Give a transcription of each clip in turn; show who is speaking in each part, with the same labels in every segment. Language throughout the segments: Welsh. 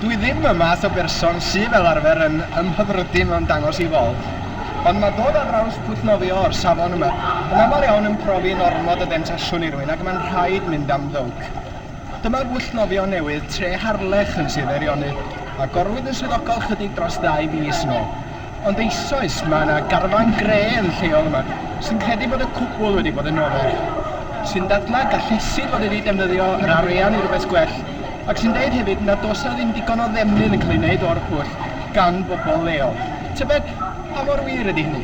Speaker 1: Dwi ddim y math o berson sy fel arfer yn ymhyfrydu mewn dangos i fawb, ond mae dod ar draws pwll nofio o'r safon yma yn aml iawn yn profi'n ormod o ddemtasiwn i rywun ac mae'n rhaid mynd am ddowc. Dyma bwll nofio newydd Tre Harlech yn Sir Feirionydd, a gorwyd yn swyddogol chydig dros ddau fis yn ôl. Ond eisoes, mae yna garfan gre yn lleol yma sy'n credu bod y cwbl wedi bod yn ofer, sy'n dadlau gallesid fod wedi defnyddio yr arian i rywbeth gwell ac sy'n deud hefyd nad oes yna ddim digon o ddefnydd yn cael ei wneud o'r pwll gan bobl leol. Tybed pa mor wir ydy hynny?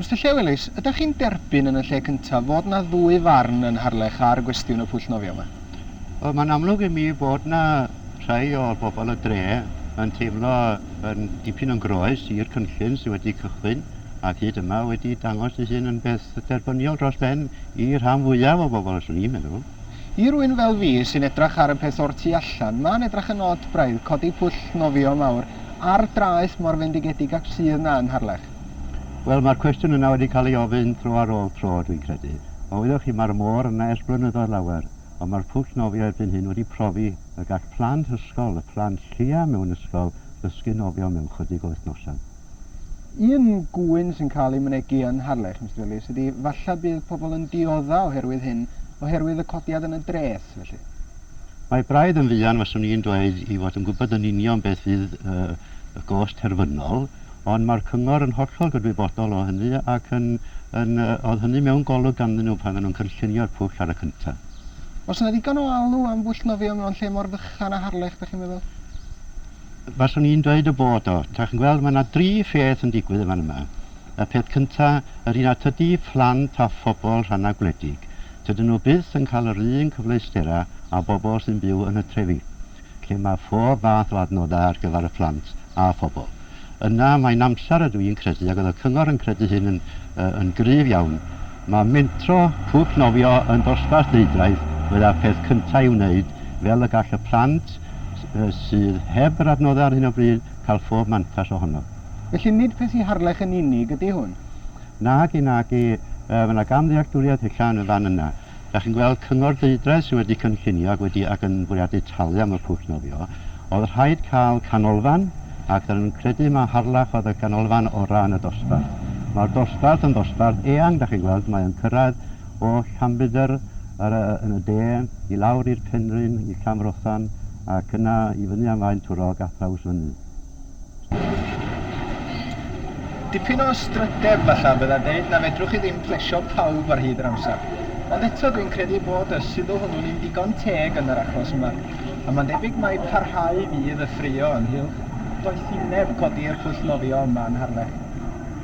Speaker 1: Mister Llewelys, ydych chi'n derbyn yn y lle cyntaf fod yna ddwy farn yn Harlech ar gwestiwn y pwll nofio yma? Wel, mae'n amlwg
Speaker 2: i mi bod yna rhai o bobl y dre yn teimlo yn dipyn yn groes i'r cynllun sydd wedi cychwyn. ac hyd yma wedi dangos ei hun yn beth derbyniol dros ben i rhan fwyaf o bobl, swn i'n meddwl. I rywun fel
Speaker 1: fi sy'n edrach ar y peth o'r tu allan, ma'n edrach yn od braidd codi pwll nofio mawr ar draeth mor fendigedig ac sydd 'na yn Harlech. Wel, ma'r
Speaker 2: cwestiwn yna wedi cael ei ofyn tro ar ôl tro, dwi'n credu. O, wyddoch chi, ma'r môr yna ers blynyddoedd lawer, ond ma'r pwll nofio erbyn hyn wedi profi y gall plant ysgol, y plant lleia mewn ysgol, ddysgu nofio mewn chydig o wythnosau. Un
Speaker 1: gŵyn sy'n cael ei mynegi yn Harlech, Mister Ellis, ydy falle bydd pobl yn diodda oherwydd hyn, oherwydd y codiad yn y dreth, felly? Mae braidd
Speaker 2: yn fuan, faswn i'n dweud, i fod yn gwybod yn union beth fydd y gost terfynol, ond mae'r cyngor yn hollol gydwybodol o hynny ac yn, yn, oedd hynny mewn golwg ganddyn nhw pan oedden nhw'n cynllunio'r pwll ar y cyntaf. Oes yna ddigon
Speaker 1: o alw am bwll nofio mewn lle mor fychan â Harlech, dach chi'n meddwl? Faswn
Speaker 2: i'n dweud y bod o. Dach chi'n gweld, mae 'na dri pheth yn digwydd yn fan yma. Y peth cynta, yr un a tydi phlant a phobl rhannau gwledig, tydyn nhw byth yn cael yr un cyfleusterau â bobl sy'n byw yn y trefi, lle mae phob math o adnoddau ar gyfer y plant a phobl. Yna, mae'n amser, ydw i'n credu, ac oedd y cyngor yn credu hyn yn, yn gryf iawn, Mae mentro cwch nofio yn dosbarth neudraeth fydda'r peth cyntaf i'w wneud, fel y gall y plant sydd heb yr adnoddau ar hyn o bryd cael phob mantais ohono. Felly nid peth i
Speaker 1: Harlech yn unig ydy hwn? Nagi,
Speaker 2: nagi. Mae yna gamddealltwriaeth ella yn y fan yna. Dach chi'n gweld cyngor deudraeth sydd wedi cynllunio ac wedi ac yn bwriadu talu am y cwch nofio, Oedd rhaid cael canolfan ac dan yn credu mae Harlech oedd y ganolfan o ran y dosbarth. Mae'r dosbarth yn ddosbarth eang da chi'n gweld mae o'n cyrraedd o Llanbedr yr yy yn y de i lawr i'r Penrhyn i Llanfrothan ac yna i fyny am Faentwrog a thraws fyny.
Speaker 1: Dipyn o strydeb falla fydda deud na fedrwch chi ddim plesio pawb ar hyd yr amser. Ond eto dwi'n credu bod y sylw hwnnw'n un digon teg yn yr achos yma, a mae'n debyg mai parhau fydd y ffraeo ynghylch doethineb codi'r pwll nofio yma yn Harlech.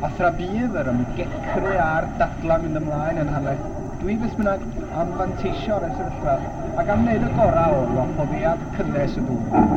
Speaker 1: A thra bydd yr ymgecru a'r dadlau mynd ymlaen yn Harlech, Dwi beth bynnag am fanteisio'r y sefyllfa ac am wneud y gorau o'r wahoddiad cynnes y gŵr yma.